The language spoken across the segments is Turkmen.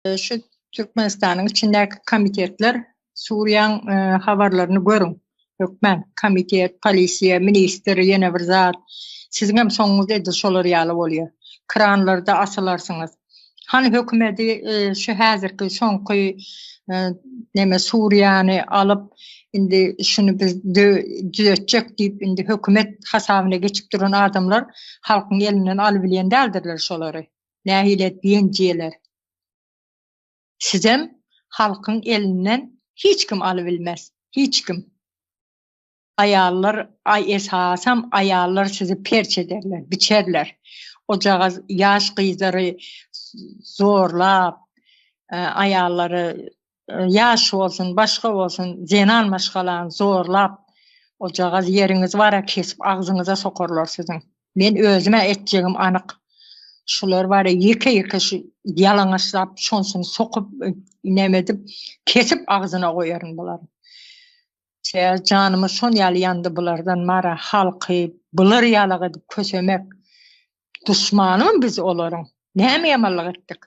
Şu Türkmenistanyň içindäki komitetler Suriýaň habarlaryny görüň. Hökman komitet, polisiýa, ministr, ýene bir zat. Siziň hem soňuňyz edil şolar ýaly bolýar. Kranlarda asylarsyňyz. Hany hökümeti şu häzirki soňky neme Suriýany alyp indi şuny biz düzetjek diýip indi hökümet hasabyna geçip duran adamlar halkyň elinden alybilýän däldirler şolary. nähile diýen jeler. Sizem halkyň elinden hiç kim alybilmez, hiç kim. Aýallar, aý esasam aýallar sizi perç ederler, biçerler. Ojagaz ýaş gyzlary zorlap, aýallary ýaş bolsun, başga bolsun, zenan maşgalany zorlap, ojagaz ýeriňiz bara kesip agzyňyza sokarlar siziň. Men özüm-ä etjegim anyk. Şular bara ýeke-ýeke şu ýalaňaçlap, şonsyny sokup, näme edip, kesip agzyna goýaryn bularyň. Çeýe janymyz şon ýaly ýandy bulardan mara halky bular ýalak edip kösemek. Duşmanymyň biz olaryň. Näme ýamanlyk etdik?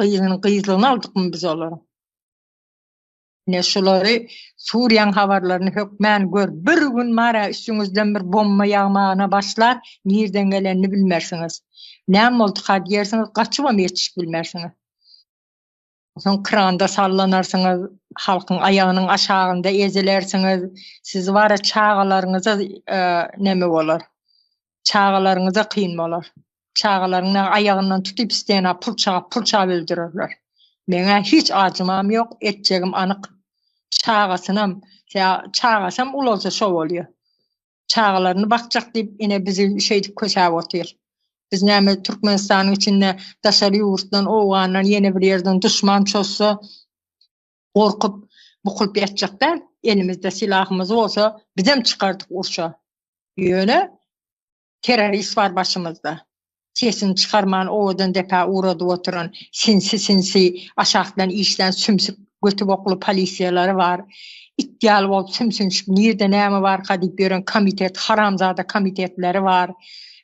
gyzyny gyzlygyny aldykmy biz olary? Ne şulary Suriýaň habarlaryny hökmän gör, bir gün mara üstüňizden bir bomba ýagmagyna başlar, nirden gelenini bilmersiňiz. Näme bolduka diýersiňiz, gaçybam ýetişip bilmersiňiz. Soň kranda sallanarsyňyz, halkyň aýagynyň aşagynda ezilersiňiz, sizi bara çagalaryňyza e, näme bolar? Çagalaryňyza kyn bolar. Çagalaryň maňa aýagyndan tutup stena purçap-purçap öldürerler. Meň-ä hiç ajymam ýok, etjegim anyk. Çagasynam, ýa çagasam ulalsa şo bolýa. Çagalaryny bakjak diýip ine bizi şeýdip kösäp otyr. Biz näme Türkmenistanyň içinde daşary ýurtdan owgandan ýene bir ýerden duşman çozsa, gorkup, bukulyp ýatjak däl. Elimizde silahymyz bolsa, bizem çykardyk urşa. Ýöne, terrorist bar başymyzda. Sesini çykarman owadan depä ugradyp oturan, sinsi-sinsi aşakdan işlän sümsük götübokly polisiýalary bar. It ýaly bolup sümsünşip, nirde näme barka diýip ýören komitet, haramzada komitetleri bar.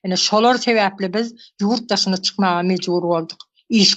Ine, şolar sebäpli biz ýurt daşyna çykmaga mejbur bolduk. Iş.